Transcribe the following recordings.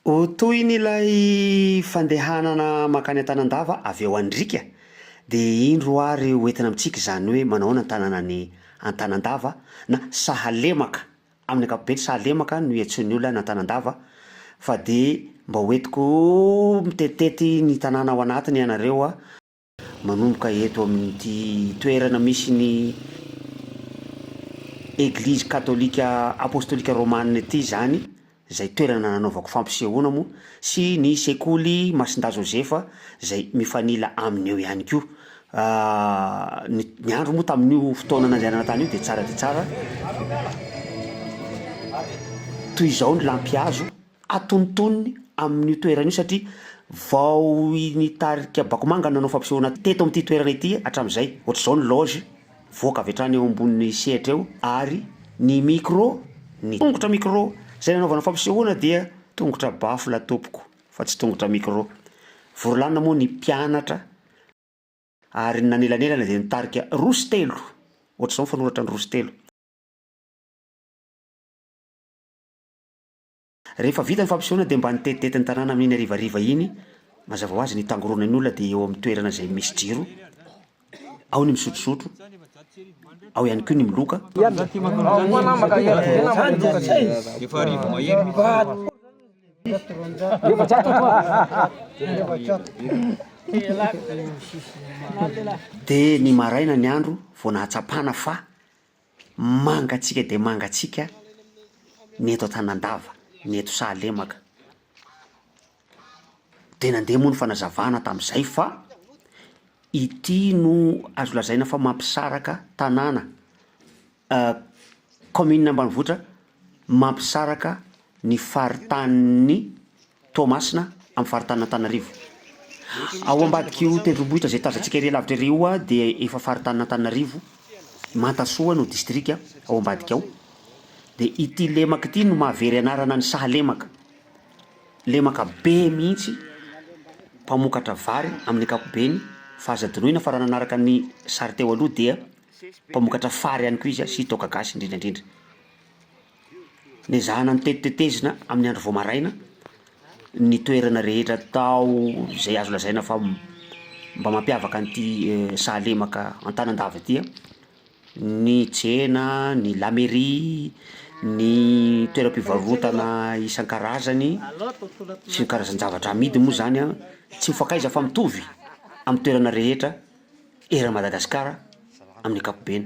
Ho tohiny ilay fandehanana mankany Antanandava avy ao Andrika dia indro ary ho entina amintsika izany hoe manahoana ny tanàna any Antanandava na Sahalemaka, amin'ny ankapobeny Sahalemaka no iantsoan'ny olona any Antanandava fa dia mba ho entiko mitenitety ny tanàna ao anatiny ianareo a. Manomboka eto amin'ity toerana misy ny Eglizy Katolika Apostolika Romana ity izany, izay toerana nanaovako fampisehoana moa, sy ny Sekoly Masindahy Joseph izay mifanila aminy eo ihany koa. Ny ny andro moa tamin'io fotoana nandehanana tany io dia tsara dia tsara. Toy izao ny lampihazo. atonontonony amin'io toerana io satria vao ny tarika Bakomanga no nanao fampisehoana teto amin'ity toerana ity hatramin'izay. Ohatr'izao ny loge, mivoaka avy hatrany eo ambonin'ny sehatra eo ary ny micro, ny tongotra micro izay nanaovana fampisehoana dia tongotra baffle tompoko fa tsy tongotra micro. Vory lanona moa ny mpianatra ary ny nanelanelana dia nitarika roa sy telo, ohatr'izao ny fanoratra ny roa sy telo. Rehefa vita ny fampisehoana dia mba nitetitety ny tanàna amin'iny harivariva iny, mazava ho azy ny tangoronan'ny olona dia eo amin'ny toerana izay misy jiro, ao ny misotrosotro, ao ihany koa ny miloka. Dia ny maraina ny andro vao nahatsapana fa. Mangatsiaka dia mangatsiaka ny eto Antanandava, ny eto Sahalemaka. Dia nandeha moa ny fanazavana tamin'izay fa ity no azo lazaina fa mampisaraka tanàna kaominina ambanivohitra mampisaraka ny faritanin'i Toamasina, amin'ny faritanin'Antananarivo. Ao ambadik'io tendrombohitra izay tazantsika ery alavitra ery io dia efa faritanin'Antananarivo, Mantasoa no distrika ao ambadika ao. Dia ity lemaka ity no mahavery anarana ny sahalemaka. Lemaka be mihitsy, mpamokatra vary amin'ny ankapobeny fa aza adinoina fa raha nanaraka ny sary teo aloha dia mpamokatra fary ihany koa izy sy toaka gasy indrindra indrindra. Ny ezahana ny tetitetezina amin'ny andro vao maraina ny toerana rehetra tao izay azo lazaina fa mba mampiavaka an'ity sahalemaka Antanandava ity an, ny tsena, ny la mairie, ny toeram-pivarotana isan-karazany sy ny karazan-javatra amidy moa zany an, tsy mifankaiza fa mitovy amin'ny toerana rehetra eran'i Madagasikara amin'ny ankapobeny.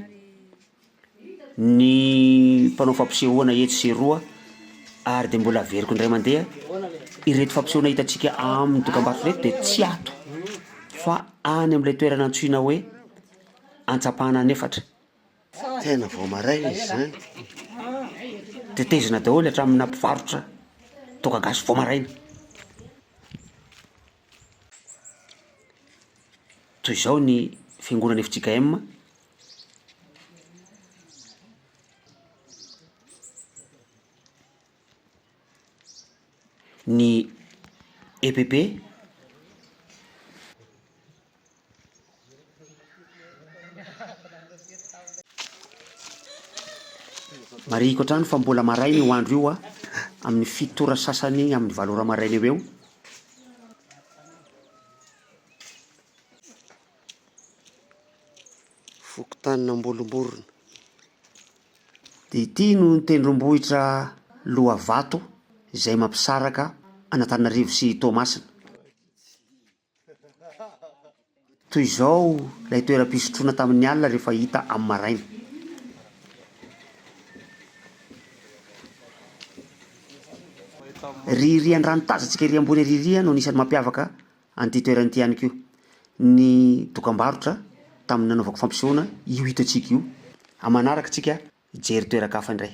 ny mpanao fampisehoana etsy sy eroa ary dia mbola averiko indray mandeha, ireto fampisehoana hitantsika amin'ny dokambarotra ireto dia tsy ato fa any amin'ilay toerana antsoina hoe Antsapana any efatra. Tena vao maraina izy izany. Tetezina daholo hatraminà mpivarotra toaka gasy vao maraina. Toy izao ny fiangonan'ny FJKM. Ny EPP Marihiko hatrany fa mbola maraina io andro io amin'ny fito ora sasany iny amin'ny valo ora maraina eo ho eo. fokontanin'Ambolomborona. Dia ity no tendrombohitra Lohavato izay mampisaraka an'Antananarivo sy Toamasina. Toy izao ilay toeram-pisotroana tamin'ny alina rehefa hita amin'ny maraina. Ririan-drano tazantsika ery ambony ririan no anisan'ny mampiavaka An'ity toerana ity ihany koa ny dokambarotra tamin'ny nanaovako fampisehoana io hita antsika io. Aman'araka isika hijery toeran-kafa indray.